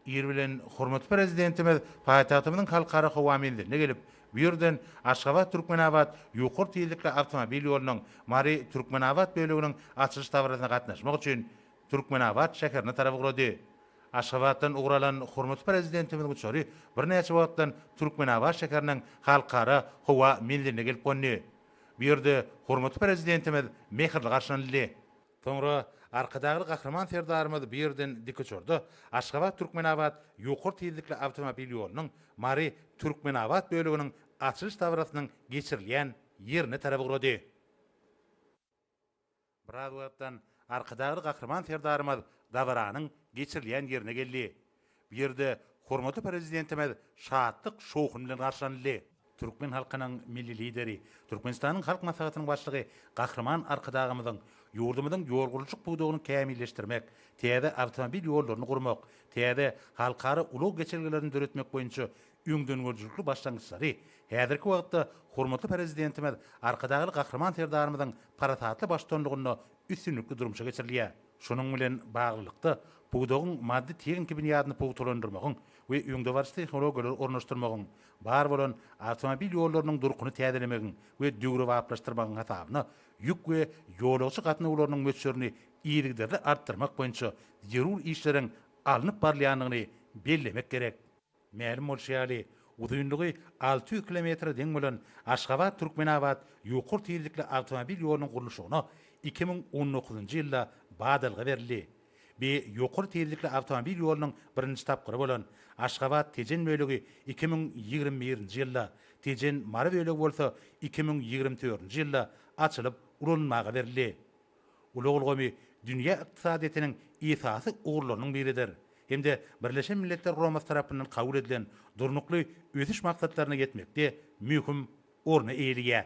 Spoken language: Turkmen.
Ir bilen hormatly Prezidentimiz paýtagtymyzyň Halkara howa menzilinde gelip, bu ýerden Aşgabat-Türkmenabat ýokary tizlikli awtomobil ýolunyň Mary-Türkmenabat böleginiň açylyş dabarasyna gatnaşmak üçin Türkmenabat şäherine tarap ugrady. Aşgabatdan ugur alan hormatly Prezidentimiziň uçary birnäçe wagtdan Türkmenabat şäheriniň Halkara howa menziline gelip gondy. Bu ýerde hormatly Prezidentimiz mähirli garşylanyldy. Soňra Arkadagly Gahryman Serdarymyz bu ýerden dikuçarda Aşgabat, Türkmenabat ýokary tizlikli awtomobil ýolunyň Mary, Türkmenabat böleginiň açylyş dabarasynyň geçirilýän ýerine tarap ugrady. Biraz wagtdan Arkadagly Gahryman Serdarymyz dabaranyň geçirilýän ýerine geldi. Bu ýerde hormatly Prezidentimiz şatlyk, şowhun bilen garşylanyldy. Türkmen halkynyň Milli Lideri, Türkmenistanyň Halk Maslahatynyň Başlygy Gahryman Arkadagymyzyň ýurdumyzyň ýol gurluşyk pudagyny kämilleşdirmek, täze awtomobil ýollaryny gurmak, täze halkara ulag geçelgelerini döretmek boýunça öňdengörüjilikli başlangyçlary, häzirki wagtda hormatly Prezidentimiz Arkadagly Gahryman Serdarymyzyň parasatly baştutanlygynda üstünlikli durmuşa geçirilýär. Şunuň bilen baglylykda, pudagyň maddy-tehniki binýadyny pugtalandyrmagyň we öňdebaryjy tehnologiýalary ornaşdyrmagyň, bar bolan awtomobil ýollarynyň durkuny täzelemegiň we döwrebaplaşdyrmagyň hasabyna ýük we ýolagçy gatnawlarynyň möçberini yzygiderli artdyrmak boýunça zerur işleriň alnyp barylýandygyny bellemek gerek. Mälim bolşy ýaly, uzynlygy alty ýüz kilometre deň bolan Aşgabat, Türkmenabat ýokary tizlikli awtomobil ýolunyň gurluşygyna iki müň on dokuzynjy ýylda badalga berildi. Bi ýokary tizlikli awtomobil ýolunyň birinji tapgyry bolan Aşgabat, Tejen bölegi iki müň ýigrimi birinji ýylda, Tejen, Mary bölegi bolsa iki müň ýigrimi dördünji ýylda açylyp ulanylmaga berildi. Ulag ulgamy dünýä ykdysadyýetiniň esasy ugurlarynyň biridir hem-de Birleşen Milletler Guramasy tarapyndan kabul edilen Durnukly ösüş maksatlaryna ýetmekde möhüm orny eýeleýär.